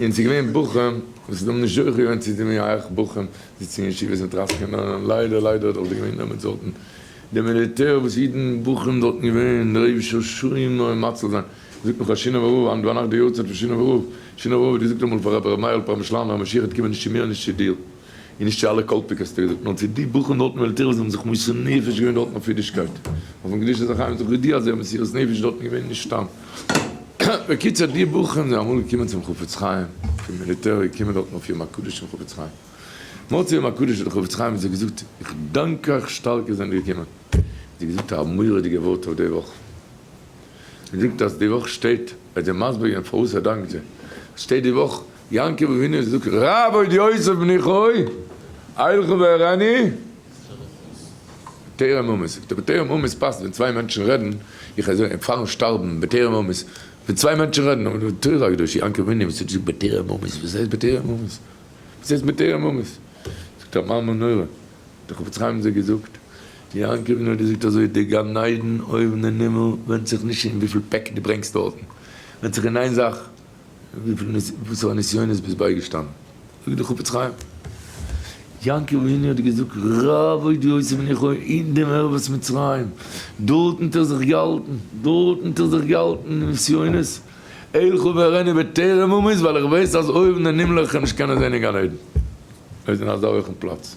און ס'איז געווען בחורים וואס האבן נישט זוכה געווען צו די מייעך, בחורים זיצן אין ישיבות מיט רייס קענען, און ליידער ליידער האט דאך די געווען דעמאלטס זאלטן די מיליטער וואס אידן בחורים זאלטן געווען רעב ששומער און מאציל זיין, זאגט מיך א שינאווער רב היינט ביינאכט די יארצייט פון שינאווער רב, שינאווער רב האט געזאגט אמאל פאר רבי ר' מאיר'ל פרעמישלאנער המשיח האט קומען נישט צו מיר און נישט צו דיר. און נישט צו אלע קאלפיק האסטו געזאגט, נאר צו די בחורים דארטן וועלט עיר וואס האבן זיך מוסר נפש געווען דארטן אויף אידישקייט, אויפן קדושת החיים זיך געודיע אז זיי האבן מסירות נפש דארטן געווען נישט סתם. בקיצור די בחורים זענען אמאל געקומען צום חפץ חיים פון מיליטער געקומען דארטן אויף יום הקדוש פון חפץ חיים. מוצאי יום הקדוש האט דער חפץ חיים זיי געזאגט איך דאנק אייך שטארק איר זענט געקומען. זיי געזאגט א מורא'דיגע ווארט אויף די וואך. מ'זאגט אז די וואך שטייט, וועט זיי מסביר געבן פארוואס ער דאנקט זיי, עס שטייט די וואך, יעקב אבינו האט געזאגט רב עוד יוסף בני חוי, אילכו ואראני בטרם אמות, זאגט ער בטרם אמות פאסט ווען צוויי מענטשן רעדן, איך זאג אים פארן שטארבן בטרם אמות, ווען צוויי מענטשן רעדן, אבער די תורה הקדושה יעקב אבינו וואס האט געזאגט בטרם אמות, וואס הייסט בטרם אמות? וואס הייסט בטרם אמות? זאגט ער מאמר נורא, האט דאך חפץ חיים זי ע געזאגט, יעקב נאר געזאגט אזוי, די גן עדן אויבן אין הימל ווענדט זיך נישט אין וויפיל פעק דו ברענגסט דארטן, ווענדט זיך אין איין זאך, וויפיל וואסערע נסיונות ביסט בייגעשטאנען, זאגט דער חפץ חיים, יעקב אבינו האט געזאגט, רב אוי די עושה בני חו, אין דעם ערבות מצרים, דארטן האט ער זיך געהאלטן, דארטן האט ער זיך געהאלטן אין נסיונות, אלכו ואראני בטרם אמות, ווייל איך ווייס אז אויבן אין הימל איך קען נישט קענען זען אין גן עדן, אויב איז אין אזא הויכן פלאץ,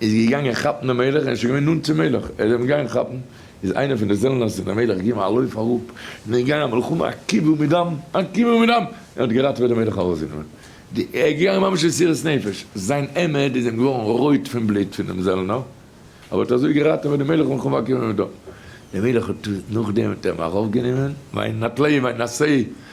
איז געגאנגען כאפן דעם מלך, ער איז שוין געווען נאנט צום מלך, ער איז אים געגאנגען כאפן, איז איינער פון די זעלנערס און דער מלך געגעבן א לויף אראפ, און איז געגאנגען א מלחמה א קיבול מדם, א קיבול מדם, און האט געראטעוועט דעם מלך ארויסגענומען די, ער איז געגאנגען ממש אין מסירת נפש, זיין העמד איז אים געווארן רויט פון בלוט פון דעם זעלנער, אבער האט אזוי געראטעוועט דעם מלך מלחמה א קיבול מדם, דער מלך האט נאכדעם האט ער אים ארויפגענומען, ויינתליה ויינשאי,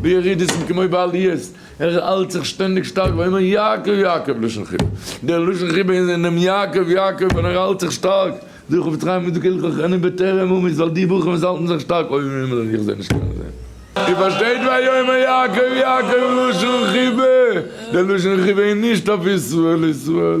בירידותן כמו בעליות, ער האלט זיך שטענדיג שטארק ויאמר יעקב יעקב לשון חיבה, דער לשון חיבה איז אין דעם יעקב יעקב ווען ער האלט זיך שטארק, דער חפץ חיים איז דא כהלכות חנון בטרם אמות ווייל די בוכים וואס האלטן זיך שטארק אויבן אין הימל און איך זע נישט קענען זען. איר פארשטייט ויאמר יעקב יעקב לשון חיבה, דער לשון חיבה איז נישט אויף ישראל ישראל.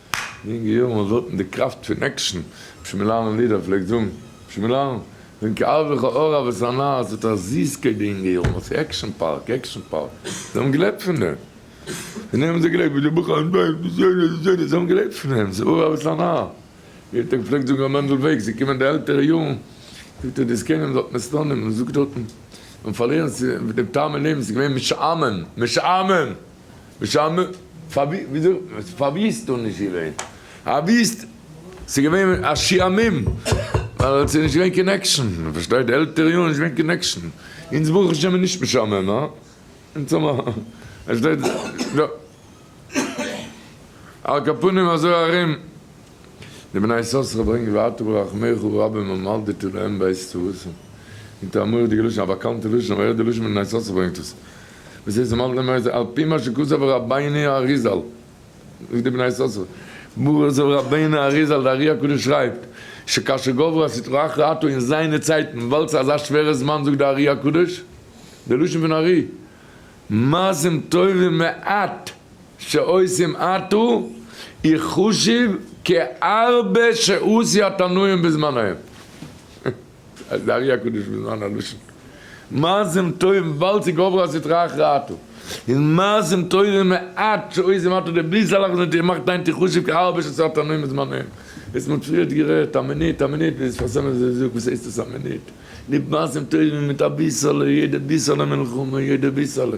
אין יונגע יארן האט זעלטן די קראפט פון עקשן אפשר מיר לערנען לידער פלעגט זאגן אפשר מיר לערנען ווען כאב איך א אור אהבת הנאה עס האט א זיסקייט די יונגע יארן האט זיי עקשן פארק עקשן פארק זיי האבן געלעבט פון דעם פון דעם האבן זיי געלעבט ווי די בחורים דא די זונות די זונות זיי האבן געלעבט פון דעם ס'איז אור אהבת הנאה יעדן טאג פלעגט זאגן ר' מענדל וועג זיי קומען די עלטערע יארן זאגט ער די זקנים זאלט מען סטאנען מען זאגט דארטן מען פארלירן ס'איז דעם טעם אין לעבן ס'איז געווען משעמם משעמם. בשם מ. פאר ווי וויאזוי פאר ווי איז דא נישט געווען א וויסט ס'איז געווען א שעהמם ווייל ס'איז נישט געווען קאנעקשאן פארשטייט די עלטערע יארן איז נישט געווען קאנעקשאן אונז ברוך השם איז נישט משעמם הא אונז האבן פארשטייט יא על כל פנים אזוי ארום די בני יששכר ברענגען ואתה ברחמיך רבים ומלדתו להם בעת צרתם און תאמר די געלושען א באקאנטע לשון אבער יעדע לשון בני יששכר ברענגט עס. וואס איז אמאל געווען נוהג על פי מה שכתב רבינו האריזל זאגט די בני יששכר ברוך זאל רבינו האריזל די ארי הקדוש שרייבט שכאשר גברו הסטרא אחרא אתו אין זיינע צייטן וואלט זיך אזא שווערע זמן זאגט די ארי הקדוש די לשון פון ארי מעשים טובים מעט שעושים אתו איכ חשוב כ ארבע שעות התנאים בזמנם. אז די ארי הקדוש וויל זיין א לשון מעשים טובים וויבאלד ס'גובר על סטראך רעתו איז מעשים טובים מעט שעושים מעט אדער בלי סאלח ניט איר מאכט היינט איר חשוב כהרבה שעשאת אנו מזמננו עס מ'האט פריערט גערעדט א מינוט א מינוט ביז פאר סעמעס איז זאג וואס הייסט עס א מינוט ליב מעשים טובים מיט אביסעלע יעדע ביסעלע מלחמה יעדע ביסעלע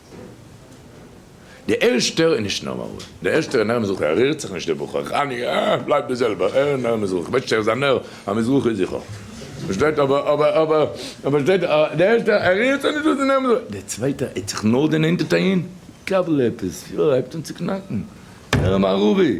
די ערשטער איז נישט נארמאל, די ערשטער איז נער מזרחי, ער רירט זיך נישט די בחור, חני אה בלייבט די זעלבער, ער איז נער מזרחי, כ'ווייס נישט ער איז א נער המזרחי זיכער, פארשטייט אבער אבער אבער אבער פארשטייט די ערשטער ער רירט זיך נישט דאס איז נער מזרחי, די צווייטע ער האט זיך נאר דערנענטערט אהין, קבל עפעס, יא ער הייבט אן צו קנאקן, נער מערבי.